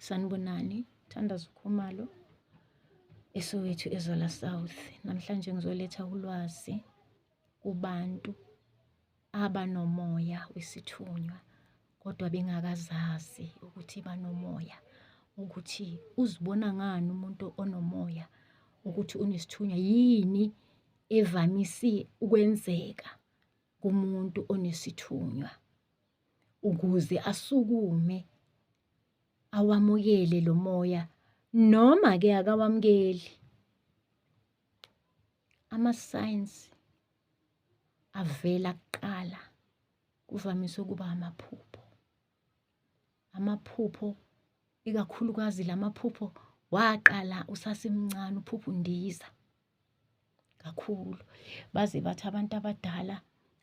Sanibonani, Thandazo Khumalo eSoweto eZola South. Namhlanje ngizoletha ulwazi kubantu abanomoya wesithunywa kodwa bengakazazi ukuthi banomoya ukuthi uzibona ngani umuntu onomoya ukuthi unesithunywa yini evamise ukwenzeka kumuntu onesithunywa. ukuze asukume awamukele lo moya noma ke akawamukeli ama-signs avela kuqala kuvamise ukuba amaphupho amaphupho ikakhulukazi lamaphupho waqala usasemncane uphupha undiza kakhulu baze bathi abantu abadala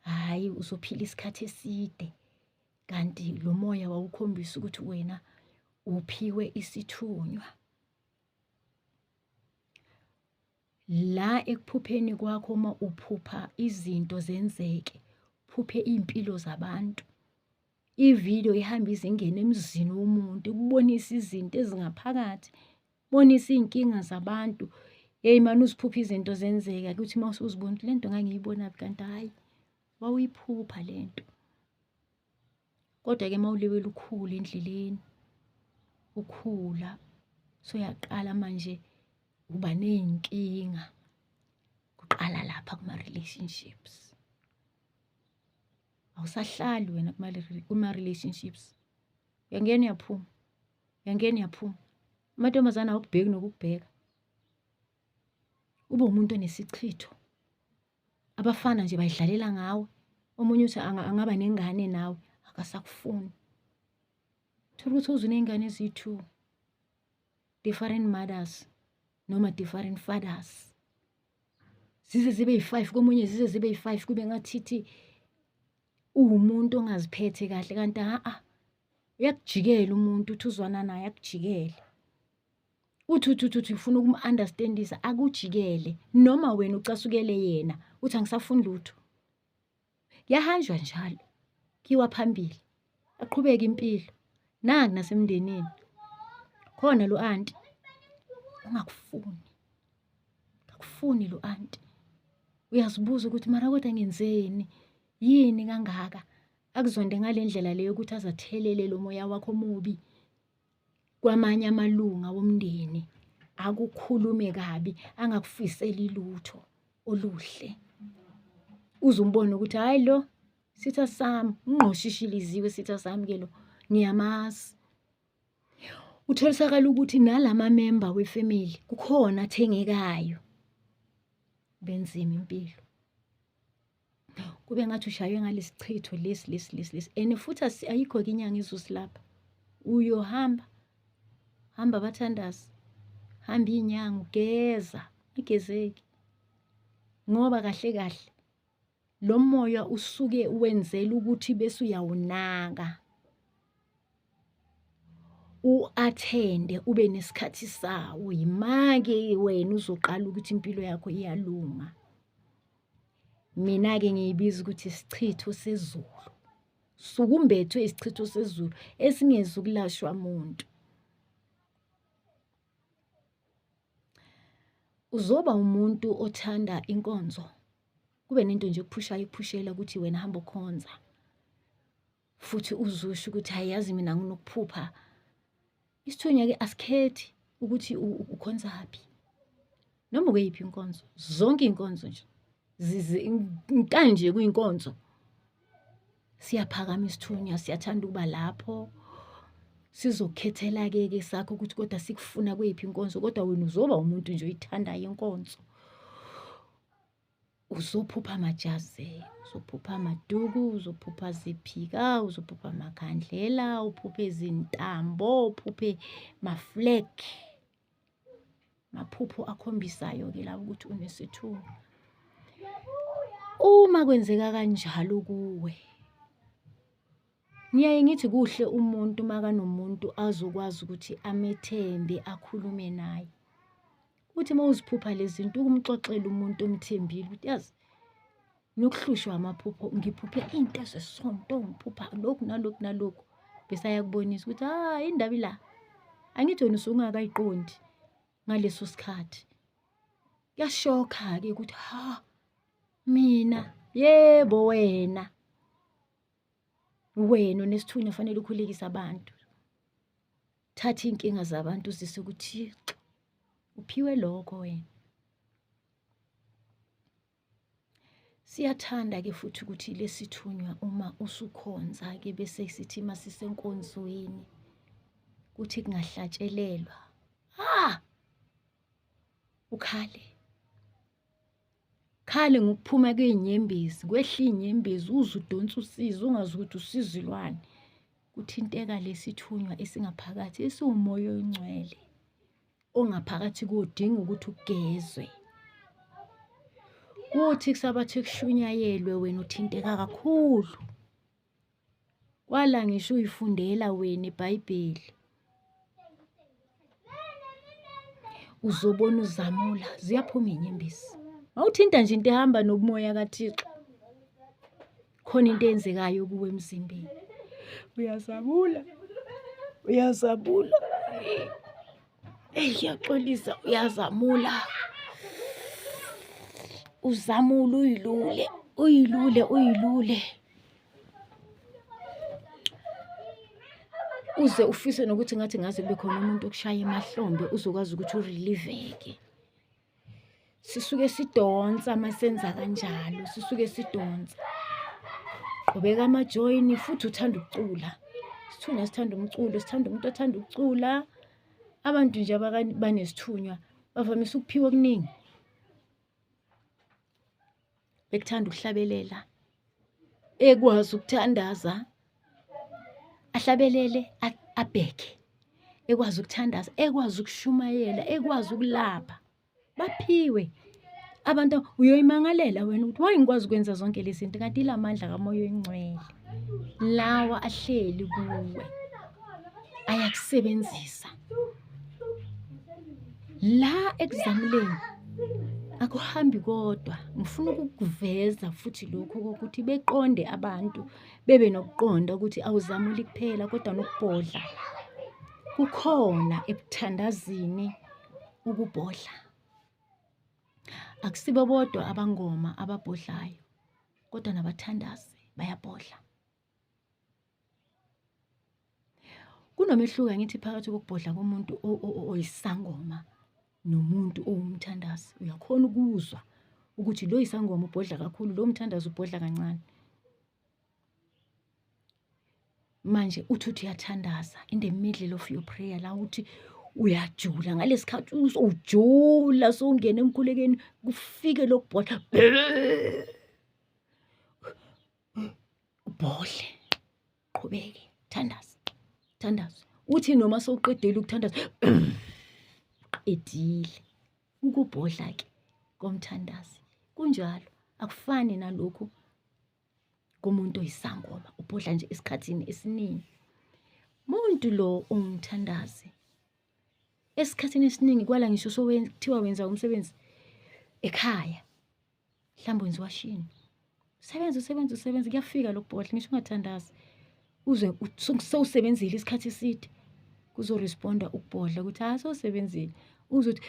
hhayi uzophila isikhathi eside kanti lo moya wawukhombisa ukuthi wena uphiwe isithunywa la ekuphupheni kwakho uma uphupha izinto zenzeke phuphe iy'mpilo zabantu Ividiyo ihamba ize ingene emzini womuntu, ikubonise izinto ezingaphakathi, bonise iy'nkinga zabantu. Hheyi mane uziphuphe izinto zenzeka kuthi uma usuzibona ukuthi le nto ngangiyibonaphi kanti hhayi wawuyiphupha le nto. Kodwa-ke uma uliwela ukhula endleleni, ukhula soyaqala manje uba ney'nkinga, kuqala lapha kuma-relationships. awusahlali wena kuma-relationships uyangena uyaphuma uyangena uyaphuma amantombazane awukubheki nokukubheka ube umuntu onesichitho abafana nje bayidlalela ngawe omunye uthi angaba nengane nawe akasakufuni thola ukuthi uze uney'ngane eziyi-two different mothers noma different fathers zize zibe yi-five komunye zize zibe yi-five kube ngathithi uwumuntu ongaziphethe kahle kanti ha-a uyakujikela umuntu uthi uzwana naye akujikele uthi uthi uthi uthi ufuna ukum-understandisa akujikele noma wena ucasukele yena uthi angisafuni lutho Kuyahanjwa njalo, kiwa phambili, aqhubeke impilo. Nangu nasemndenini, khona lo anti ungakufuni, akufuni lo anti. Uyazibuza ukuthi mara kodwa ngenzeni, yini kangaka akuzonde ngale ndlela le yokuthi azathelele lo moya wakho omubi. kwamanye amalunga womndeni akukhulume kabi angakufiseli lutho oluhle uze umbone ukuthi hayi lo sitha sami ungqoshishiliziwe sitha sami ke lo ngiyamazi utholisakala ukuthi nalama member wefamily kukhona athengekayo benzima impilo kube ngathi ushaywe ngalesichitho lesi lesi lesi lesi and futhi ayikho ke inyanga izosilapha uyohamba hamba bathandazi hamba inyanga ugeza igezeki ngoba kahle kahle lo moya usuke wenzela ukuthi bese uyawunaka uathende ube nesikhathi sawo yimake wena uzoqala ukuthi impilo yakho iyalunga mina-ke ngiyibiza ukuthi isichitho sezulu sukumbethwe isichitho sezulu esingezi ukulashwa muntu uzoba umuntu othanda inkonzo kube nento nje ekuphushayo ikuphushela ukuthi wena hamba okhonza futhi uzusho ukuthi hayi yazi mina nginokuphupha isithunywa-ke asikhethi ukuthi ukhonza phi noma ukeyiphi inkonzo zonke iy'nkonzo nje kanje kuyinkonzo siyaphakama isithunywa siyathanda ukuba lapho sizokhethela-ke ke sakho ukuthi kodwa sikufuna kweyiphi inkonzo kodwa wena uzoba umuntu nje oyithandayo inkonzo uzophupha amajazi uzophupha amaduku uzophupha ziphika uzophupha amakhandlela uphuphe izintambo uphuphe maflag maphupho akhombisayo-ke la ukuthi unesithuko uma kwenzeka kanjalo kuwe ngiyaye ngithi kuhle umuntu makanomuntu azokwazi ukuthi amethembe akhulume naye Uthi uma uziphupha lezi zinto ukumxoxela umuntu omthembile ukuthi yazi nokuhlushwa amaphupho ngiphuphe into zesonto ngiphupha lokhu nalokhu nalokhu bese ayakubonisa ukuthi ah indaba ila angithi wena usungakayiqondi ngaleso sikhathi kuyashokha-ke ukuthi ha mina yebo wena wena onesithunywa fanele ukhulekise abantu thatha iy'nkinga zabantu uzise kuthixo uphiwe lokho wena siyathanda-ke futhi ukuthi lesithunywa uma usukhonza-ke bese sithi uma sisenkonzweni kuthi kungahlatshelelwa ha ukhale khale ngokuphuma kwezinyembezi kwehla izinyembezi uze udonse usizi ungazi ukuthi usizi lwani kuthinteka lesithunywa esingaphakathi esiwumoya oyingcwele ongaphakathi kodinga ukuthi ugezwe kuthi kusabathi kushunyayelwe wena uthinteka kakhulu Kwala ngisho uyifundela wena iBhayibheli. Uzobona uzamula, ziyaphuma iy'nyembezi. Mawuthinta nje into ehamba nobumoya kaThixo. Khona into eyenzekayo kuwe emzimbeni. Uyazabula. Uyazabula. Eyi ngiyaxolisa uyazamula. Uzamula uyilule, uyilule, uyilule. Uze ufise nokuthi ngathi ngaze kube khona umuntu okushaya emahlombe uzokwazi ukuthi uriliveke. sisuke sidonsa uma senza kanjalo sisuke sidonsa qhubeka amajoyini futhi uthanda ukucula sithunywa sithanda umculo sithanda umuntu othanda ukucula abantu nje abanesithunywa bavamise ukuphiwa okuningi bekuthanda ukuhlabelela ekwazi ukuthandaza ahlabelele abheke ekwazi ukuthandaza ekwazi ukushumayela ekwazi ukulapha baphiwe abantu uyoyimangalela wena ukuthi waye ngikwazi ukwenza zonke lezi zinto kanti ila mandla kamoya oyingcwele lawa ahleli kuwe ayakusebenzisa la ekuzamuleni akuhambi kodwa ngifuna ukukuveza futhi lokhu kokuthi beqonde abantu bebe nokuqonda ukuthi awuzamuli kuphela kodwa nokubhodla kukhona ebuthandazini ukubhodla akusibo bodwa abangoma ababhodlayo kodwa nabathandazi bayabhodla Kunomehluko angithi phakathi kokubhodla komuntu oyisangoma nomuntu owumthandazi. Uyakhona ukuzwa ukuthi lo yisangoma ubhodla kakhulu, lo mthandazi ubhodla kancane. Manje uthi uthi uyathandaza in the middle of your prayer la uthi uyajula ngalesikhathi usowujula sowungena emkhulekeni kufike lokubhodla ubhodle qhubeke thandaza thandaza uthi noma sowuqedile ukuthandaza qedile ukubhodla ke komthandazi kunjalo akufani nalokhu komuntu oyisangoma ubhodla nje esikhathini esiningi muntu lo ungithandazi esikhathini esiningi kwala ngisho sokuthiwa wenza umsebenzi ekhaya mhlawumbe wenziwa shini sebenza usebenza usebenza kuyafika lokubhodla ngisho ungathandazi uze sewusebenzile isikhathi eside kuzoresponda ukubhodla ukuthi hayi sewusebenzile uzothi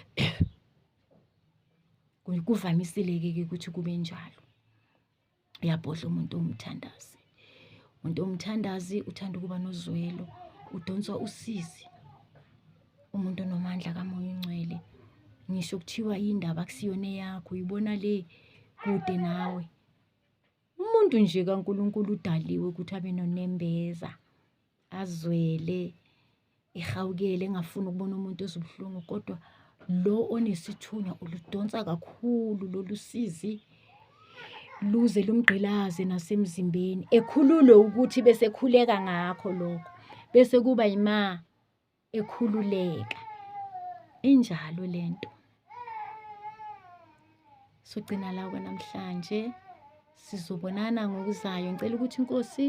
kuvamisile-ke ke ukuthi kube njalo uyabhodla umuntu ongumthandazi umuntu omthandazi uthanda ukuba nozwelo udonswa usizi umuntu onomandla kamoya ongcwele ngisho kuthiwa indaba kusiyona eyakho uyibona le kude nawe umuntu nje kaNkulunkulu udaliwe ukuthi abe nonembeza azwele ehawukele engafuni ukubona umuntu ezibuhlungu kodwa lo onesithunywa uludonsa kakhulu lolu sizi luze lumgqilaze nasemzimbeni ekhululwe ukuthi bese khuleka ngakho lokho bese kuba yima ekhululeka injalo lento sogcina la kwanamhlanje sizobonana ngokuzayo ngicela ukuthi inkosi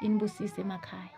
inibusise emakhaya